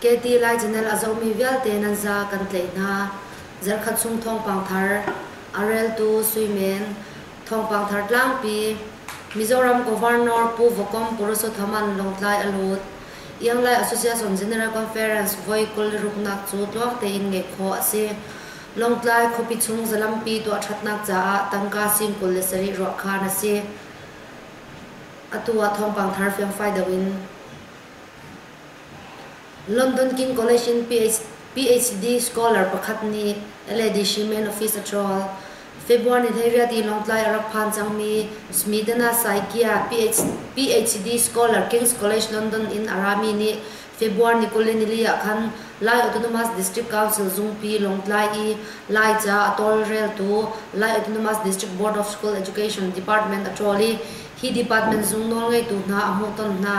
Katy Lai General a zomi vialte nan za kan tlaih hna. Zarhkhat chung thawngpang thar, a reltu suimen, thawngpang thar tlangpi, Mizoram Governor Pu Vawkom Purusothaman Lawngtlai a lut. Ianglai Association General Conference voi kul ruknak cu tluang tein ngeih khawh a si. Lawngtlai khuapi chung zalampi tuah ṭhatnak caah tangka sing kul le sarih ruah khan a si. Atu ah thawngpang thar fiangfai deuh in London King College in PhD scholar pakhat nih a Ladyshim in office a ṭawl. February ni hleiriat i Lawngtlai a rak phan cangmi Smitana Saikia PhD scholar King's College London in a rami nih February ni kul le nili ah khan Lai Autonomous District Council zungpi Lawngtlai i Laica a tawlreltu Lai Autonomous District Board of School Education Department a ṭawl i hi department zung nawlngeitu hna a hmuhton hna.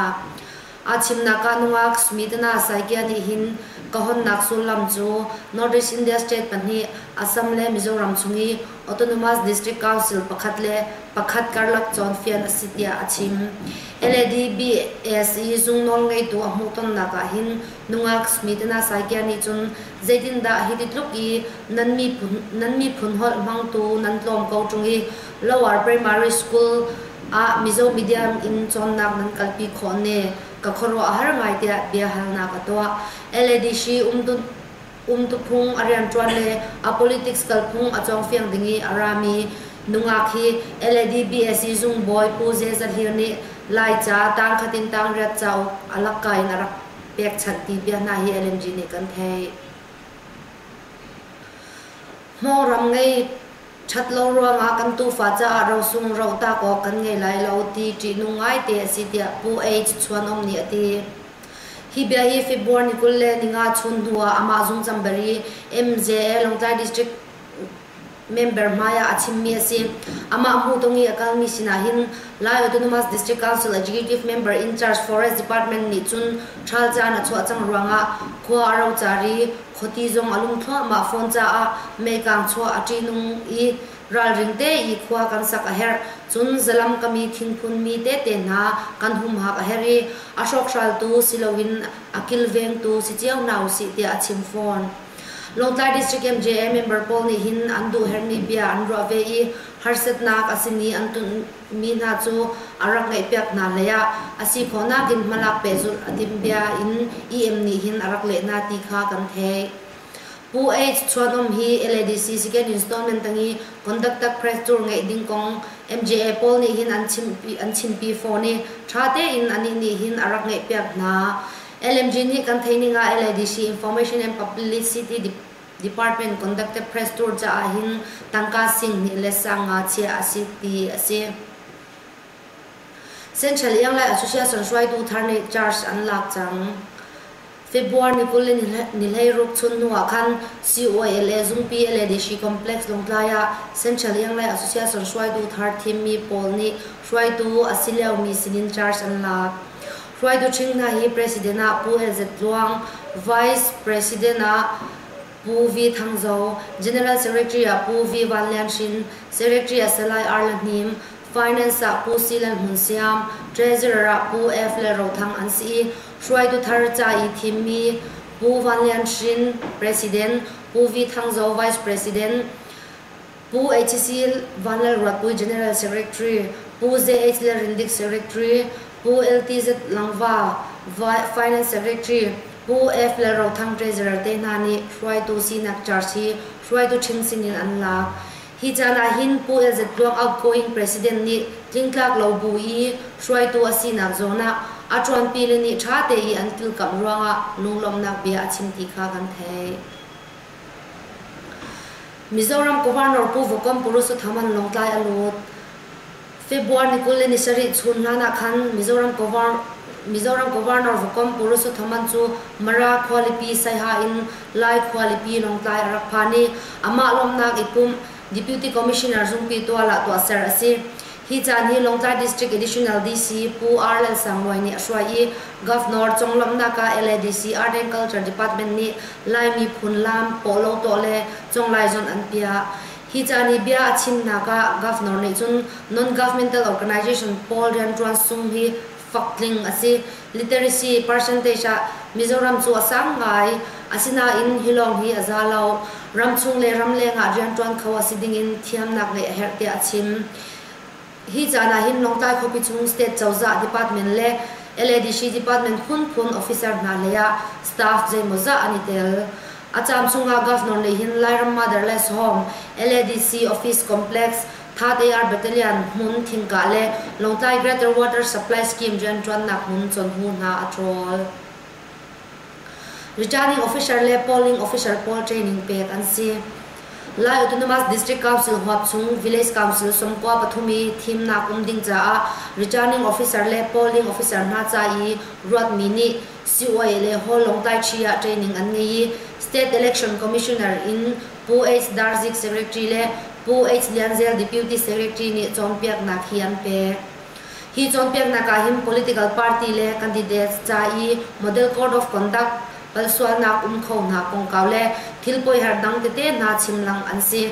A chimnak ah nungak Smitana Saikia nih hin ka honnak sullam cu North East India State pahnih, Assam le Mizoram chung i Autonomous District Council pakhat le pakhat karlak cawnfian a si tiah a chim. LADBASE zung nawlngeitu a hmuhtonnak ah hin nungak Smitana Saikia nih cun zeitindah hiti tluk i nan miphun, nan miphun holh hmangtu nan tlawm ko ṭung i Lower Primary School ah Mizo media in cawnnak nan kalpi khawh ne? Ka khuaruah a har ngai tiah biahalnak a tuah. LADC umtuphung a rianṭuan le a politics kalphung a cawngfiang ding i a rami nungak hi LADBSE zungbawi Pu Ze Za Hlir nih Laica tangkhat in tangriat cauk a lakka in a rak pekchanh ti bia hna hi LNG nih kan theih. Hnawram ngei Ṭhat lo ruangah kan tuufa caah rosung rotak awk kan ngei lai lo ti ṭihnung ngaite a si tiah Pu Ei Cu Chuan Um nih a ti. Hi bia hi February ni kul le ni nga chun hnu ah amah zungzambari MJA Lawngtlai District member hmai ah a chimmi a si. Amah hmuhtung i a kalmi sinah hin Lai Autonomous District Council Executive Member in Charge Forest Department nih cun ṭhal caan a chuah cang ruangah khua a ro car i Khuati zong a lung thluahmah fawn caah meikang chuah a ṭihnung i ralring tein khua kan sak a herh. Cun zalam kam i thingphun mi tete hna kan humhak a herh i a hrawkhraltu siloin a kilvengtu si cio hna usih tiah a chim fawn. Lawngtlai District MJA member pawl nih hin an duhherhmi bia an ruah ve i harsatnak a simi an tunh mi hna cu a rak ngeihpiak hna leiah a si khawhnak in hmalak pehzulh a timh bia in EM nih hin a rak leh hna ti kha kan theih. Pu H. Chuanawm hi LADC Second Installment tang i Conductor Press Tour ngeih ding kong MJA pawl nih hin an chimpi an chimpi fawn i ṭha tein anih nih hin a rak ngeihpiak hna. LMG nih kan theih ning ah LADC Information and Publicity Department conductor press tour caah hin tangka singhnih le sang nga chiah a si ti a si. Central Iang le Association hruaitu thar nih charge an lak cang. February ni kul in ni hlei ruk chun hnu ah khan COALA Zungpi le Deshi Complex Lawngtlai ah Central Iang le Association hruaitu thar thimmi pawl nih hruaitu a si liomi sinin charge an lak. Hruaitu ṭhing hna hi President ah Pu El Zet Luang, Vice President ah Pu V Thang Zo, General Secretary ah Pu V Van Lian Hrin, Secretary ah Salai R La Hnim, Finance ah Pu C Lal Hmun Siam, Treasurer ah Pu F Lal Ro Thang an si i hruaitu thar ca i thimmi Pu Van Lian Hrin, President, Pu V Thang Zo, Vice President, Pu HCl Van Lalruatpui General Secretary, Pu JH Lalrindik Secretary, Pu LTZ Langva Finance Secretary, Pu F Lalrothang Treasurer te hna nih hruaitu sinak charge hi hruaitu ṭhing sinin an lak. Hi caan ahhin Pu LZ Tluang outgoing President nih tlingtlak lo bu i hruaitu a sinak zawn ah a ṭuanpi le nih ṭha tein an kilkamh ruangah lunglawmhnak bia a chim ti kha kan theih. Mizoram Governor Pu Vokam Purushottam an Lawngtlai a lut. February ni kul le ni sarih chun hlan ah khan Mizoram Mizoram Governor Vokam Purushottam cu Mara khualipi Saiha in Lai khualipi Lawngtlai a rak phan i amah lawmhnak i pumh Deputy Commissioner zungpi tual ah tuahser a si. Hi caan hi Lawngtlai District Additional DC Pu R. Lalsangluai nih a hruai i Governor conglawmhnak ah LADC Art and Culture Department nih Lai miphun lam pawhlaw tuah le conglai zonh an piah. Hi caan i bia a chimnak ah Governor nih cun non-governmental organization pawl rianṭuan sung hi fak tling a si. Literacy percentage ah Mizoram cu a sang ngai. Asinain hi lawng hi a za lo. Ramchung le ramleng ah rianṭuan kho a si dingin thiamnak ngeih a herh tiah a chim. Hi caan ah hin Lawngtlai khuapi chung State cozah department le LADC department phunphun officer hna leiah staff zeimawzah an i tel. A caan chung ah governor nih hin Lairam Motherless Home, LADC office complex, Thate-ar Battalion hmun thingkah le Lawngtlai Greater Water Supply Scheme rianṭuannak hmun chonhu hna a ṭhawl. Returning officer le polling officer pawl training pek an si. Lai Autonomous District Council huap chung Village Council somkua pathum i thimnak um ding caah returning officer le polling officer hna ca i ruatmi nih COA le Hall Lawngtlai Chi ah training an ngei i State Election Commissioner in Pu H. Darzik Secretary le Pu H. Lianzel Deputy Secretary nih cawnpiaknak hi an pek. Hi cawnpiaknak ah hin political party le candidates ca i model code of conduct palsualnak um khonak kongkau le thilpoi har dang tete hna chimlang an si.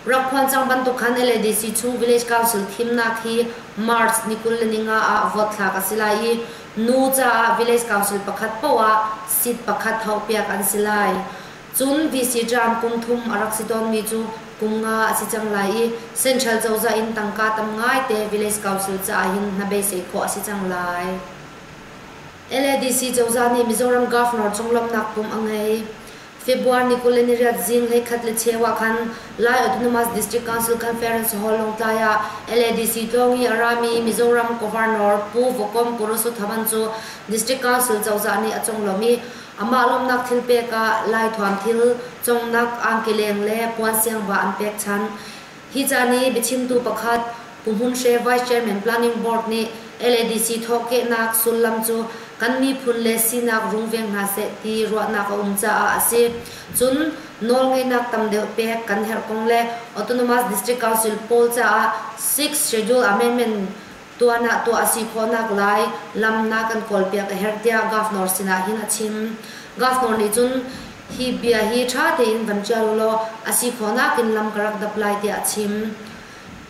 Rak phuan cang bantuk khan LADC chung Village Council thimnak hi March ni kul le ninga ah vote thlak a si lai i nu caah Village Council pakhat paoh ah seat pakhat hauh piak an si lai. Cun VC Trump kum thum a rak si tawnmi cu kum nga a si cang lai i Central cozah in tangka tam ngaite Village Council caah hin hnabeisei khawh a si cang lai. LADC cozah nih Mizoram Governor cung lawmhnak pum a ngei. February ni kul le ni riat zinglei khat le cheu ah khan Lai Autonomous District Council Conference Hall Lawngtlai ah LADC tlawng i a rami Mizoram Governor Pu Vokom Korosothaman cu District Council cozah nih a conglawmh i Amah lawmhnak thil pek ah Laithuam thil congnak angkeleng le puansiangva an pek chan. Hi caan i biachimtu pakhat Pu Hmun Hre Vice Chairman Planning Board nih LADC thawhkehnak sullam cu kan miphun le sinak rungveng hna seh ti ruahnak a um caah a si. Cun nawlngeihnak tam deuh pek kan herh kong le Autonomous District Council pawl caah six schedule amendment tuan ah tuah a si khawhnak lai lamnak kan kawlpiak a herh tiah Governor sinah hin a chim. Governor nih cun hi bia hi ṭha tein van ṭial ulaw a si khawhnak in lam ka rak dap lai tiah a chim.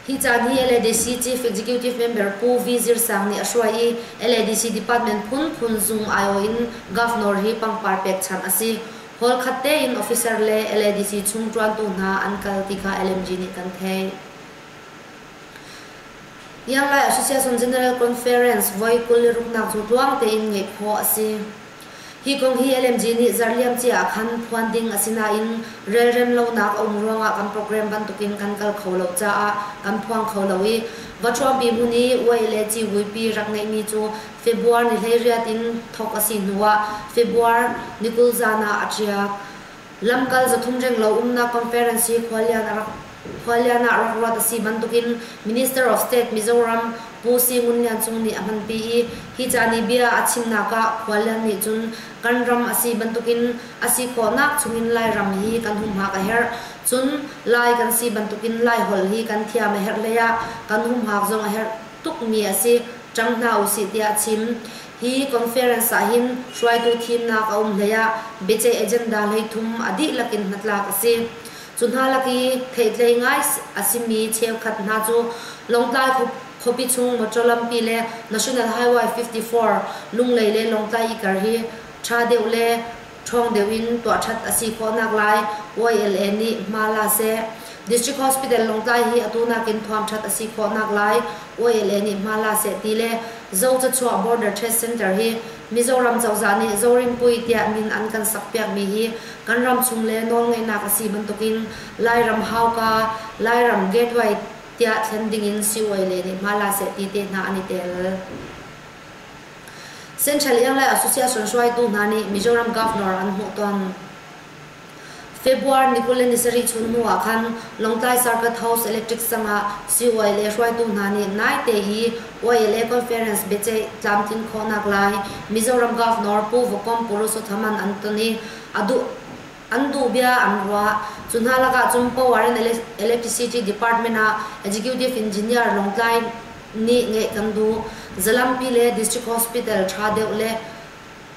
Hi caan hi LADC Chief Executive Member Pu V. Zir Sang nih a hruai i LADC Department phunphun zung aiawh in Governor hi pangpar pekchanh a si. Hall khat tein officer le LADC chung ṭuantu hna an kal ti kha LMG nih kan theih. Ianglai ah Association General Conference voi kul le ruknak cu tluang tein ngeih khawh a si. Hi kong hi LMG nih zarliam cia ah khan phuan ding a si nain relrem lonak a um ruangah kan program bantukin kan kal kho lo caah kan phuang kho lo i va ṭhuampi hmun i Wei le Civuipi rak ngeihmi cu Februar ni hleiriat in thawk a si hnuah Februar ni kul zan ah a ṭiak. Lamkal zathum renglo umnak Conferency khualian ah rak ruat a si bantukin Minister of State Mizoram Pu Si Ngun Lian Cung nih a hmanpi i hi ca nih bia a chimnak ah khualian nih cun kan ram a si bantukin a si khawhnak chungin Lairam hi kan humhak a herh cun Lai kan si bantukin Laiholh hi kan thiam a herh hleiah kan humhak zong a herh tukmi a si cang hna usih tiah a chim. Hi conference ah hin hruaitu thimnak a um hlei ah biaceih agenda hlei thum a dihlak in hnatlak a si. Cu hna lak i theihtlei ngai a simi cheukhat hna cu Lawngtlai khuapi chung motor lampi le National Highway 54 Lunglei le Lawngtlai ikar hi tha deuh le ṭhawng deuh in tuah ṭhat a si khawhnak lai YLA nih hma la seh. District Hospital Lawngtlai hi atu nakin thuamṭhat a si khawhnak lai YLA nih hma la seh ti le Zocachuah Border Trade Center hi Mizoram cozah nih Zorinpui tiah min an kan sakpiakmi hi kan ram chung le nawlngeihnak a si bantukin Lairam hauka, Lairam gateway tiah thlen dingin CYLA nih hma la seh ti te hna an i tel. Central Iang le Association hruaitu hna nih Mizoram Governor an hmuh tawn. February ni kul le ni sarih chun hnu ah khan Lawngtlai Circuit House Electric sang ah CYLA hruaitu hna nih naite i YLA Conference biaceih tlamtlin khawhnak lai Mizoram Governor Pu Vukom Purusothaman an ton i a duh an duh bia an ruah. Cu hna lakah cun Power and Electricity Department ah Executive Engineer Lawngtlai nih ngeih kan duh. Zalampi le District Hospital ṭha deuh le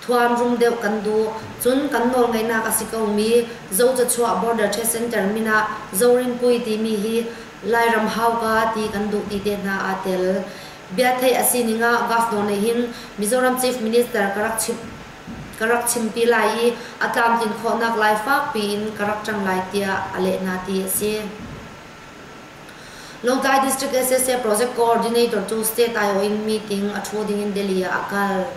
thuamrum deuh kan duh. Cun kan nawlngeihnak a si ko mi Zocachuah Border Trade Center min ah Zorinpui timi hi Lairam hauka ti kan duh ti te hna aa tel. Bia theih a sining ah Gov. Daw nih hin Mizoram Chief Minister ka rak chimh ka rak chimpi lai i a tlamtlin khawhnak lai fak piin ka rak ṭang lai tiah a leh hna ti a si. Lawngtlai District SSA Project Coordinator cu State Iowa in meeting a ṭhu ding in Delhi ah a kal.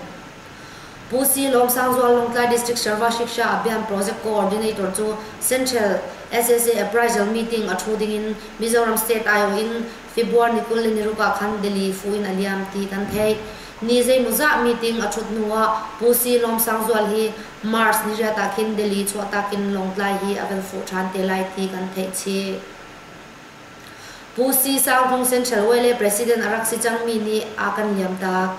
Pu C. Lawmsangzual Lawngtlai District Sharva Shiksha Abhiyan Project Coordinator cu Central SSA Appraisal meeting a ṭhu ding in Mizoram State Iowa in February ni kul le ni ruk ah khan Delhi fu in a liam ti kan theih. Ni zeimawzah meeting a ṭhut hnuah Pu Si Lawm Sang Zual hi March ni riat ah khin Delhi chuahtak in Lawngtlai hi a kan fuh ṭhan te lai ti kan theih chih. Pu Si Sang Tung Central Way le President a rak si cangmi nih a kan liamtak.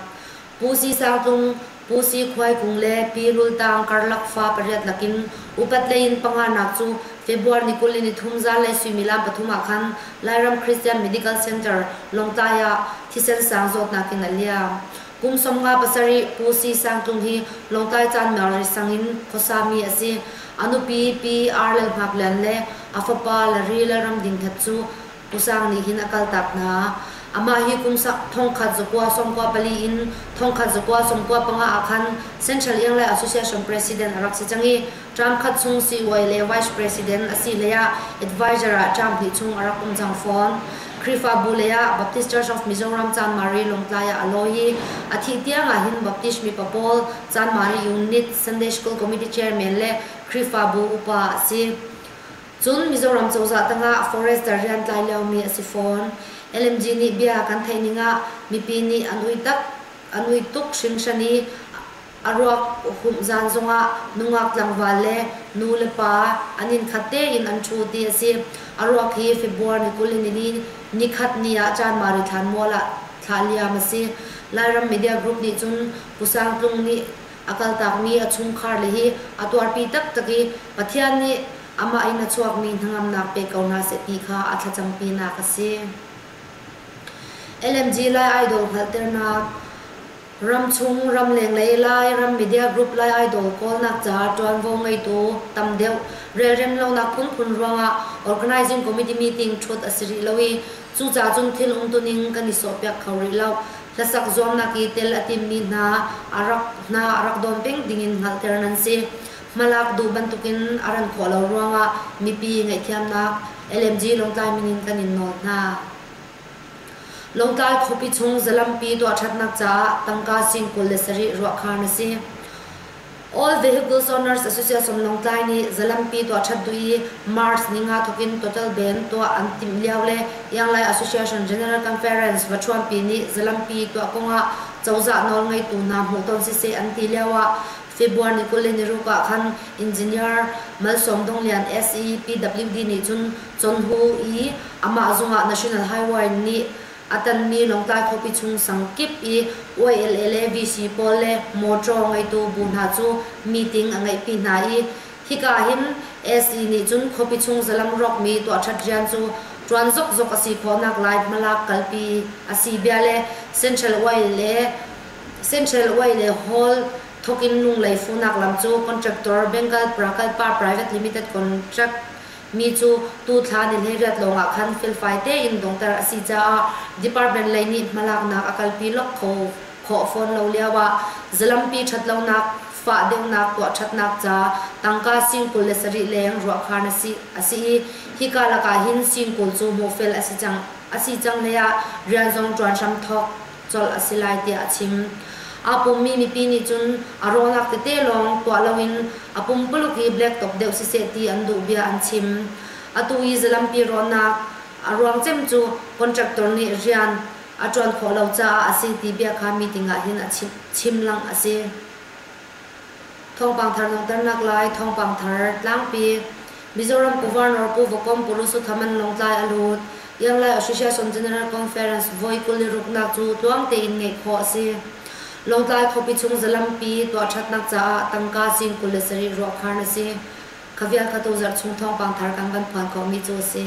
Pu Si Sang Tung Pusi khuaikung le Pi Rul Tang karlak fa pariat lakin upat lei in panganak cu February ni kul in ni thum zanlei suimilam pathum ah khan Lairam Christian Medical Center Lawngtlai ah thisen sang zawtnak in a liam. Kum sawmnga pasarih Pusi Sangtlung hi Lawngtlai caan Mary sang in khuasami a si. A nupi Pi R. Lal Hngak Lian le a fapa Larry Lalram Ding That cu Pu Sang nih hin a kaltak hna. Amah hi kum thongkhat zakua sawmkua pali in thongkhat zakua sawmkua panga ah khan Central Iang Lai Association President a rak si cang i term khat chung CY le Vice President a si leiah advisor ah term hnih chung a rak um cang fawn. Khrihfabu leiah Baptist Church of Mizoram Chanmari Lawngtlai ah a law i a thih tiangah hin Baptist mipa pawl Chanmari Unit Sunday School Committee Chairman le Khrihfabu upa a si. Cun Mizoram cozah tangah forester riantlai liomi a si fawn. LMG nih bia kan theih ning ah mipi nih an ui tak, an ui tuk hringhran i a ruak humh zan zongah nungak tlangval le nu le pa an inn khat tein an ṭhu ti a si. A ruak hi February ni kul in ni, ni khat ni ah Chanmari thlanmual ah thlah liam a si. Lairam media group nih cun Pu Sang Tlung nih a kaltakmi a chungkhar le hi a tuarpi taktak i Pathian nih amah in a chuakmi hnangamnak pe ko hna seh ti kha a thlacampinak a si. LMG Lai Idol hngalhternak Ramchung, ramleng lei lai, ram media group lai idol kawlnak caah ṭuanvo ngeitu tam deuh relrem lonak phunphun ruangah organizing committee meeting ṭhut a si rih lo i Cucaah cun thil umtuning kan i sawhpiak kho rih lo. Hlasak zuamnak i tel a timmi hna a rak hna a rak dawn peng dingin hngalhter nan si. Hmalak duh bantukin a ran khawh lo ruangah mipi ngaihthiamnak LMG Lawngtlai min in kan in nawl hna. Lawngtlai khuapi chung zalampi tuah ṭhatnak caah tangka sing kul le sarih ruahkhar na si. All Vehicles Owners Association Lawngtlai nih zalampi tuahṭhat duh i March ni nga thawk in total band tuah an timh lio le Ianglai Association General Conference vaṭhuampi nih zalampi tuah kong ah cozah nawlngeitu hna hmuh tawn siseh an ti lio ah February ni kul le ni ruk ah khan Engineer Malsawm Dong Lian SE PWD nih cun Chonhu i amah zung ah National Highway nih A tanmi Lawngtlai khuapi chung sang kip i YLA le VC pawl le motor ngeitu bu hna cu meeting a ngeihpi hna i hika hin SE nih cun khuapi chung zalam rawkmi tuahṭhat rian cu ṭuan zokzok a si khawhnak lai hmalak kalpi a si bia le Central Way le Central Way le Hall thawkin Lunglei fuhnak lam cu contractor Bengal Prakalpa Private Limited contract Mi cu tuthla ni hleiriat lawngah khan felfai tein donghter a si caah department lei nih hmalaknak a kalpi lawk kho khawh fawn lo lioah zalampi ṭhatlonak, fah deuhnak tuah ṭhatnak ca tangka sing kul le sarih leng ruahkhan a si i hika lakah hin sing kul cu mawhfel a si cang hleiah rian zong ṭuan hram thawk colh a si lai tiah a chim. Aa pummi mipi nih cun a rawlak tete lawng tuah loin a pumpuluk i black top deuh siseh ti an duh bia an chim. Atu i zalampi rawhnak a ruang cem cu contractor nih rian a ṭuan khawh lo caah a si ti bia kha meeting ah hin a chimhlang a si. Thawngpang thar langhternak lai Thawngpang thar Tlangpi Mizoram Governor Pu Vakom Purusutham an Lawngtlai a lut. Yanglai Association General Conference voi kul i ruknak cu tluang tein ngeih khawh a si. Lawngtlai khuapi chung zalampi tuahṭhatnak caah tangka cing kul le sarih ruahkhar na si. Kha vial kha tu zarh chung thawngpang thar kan kan phuan khawhmi cu a si.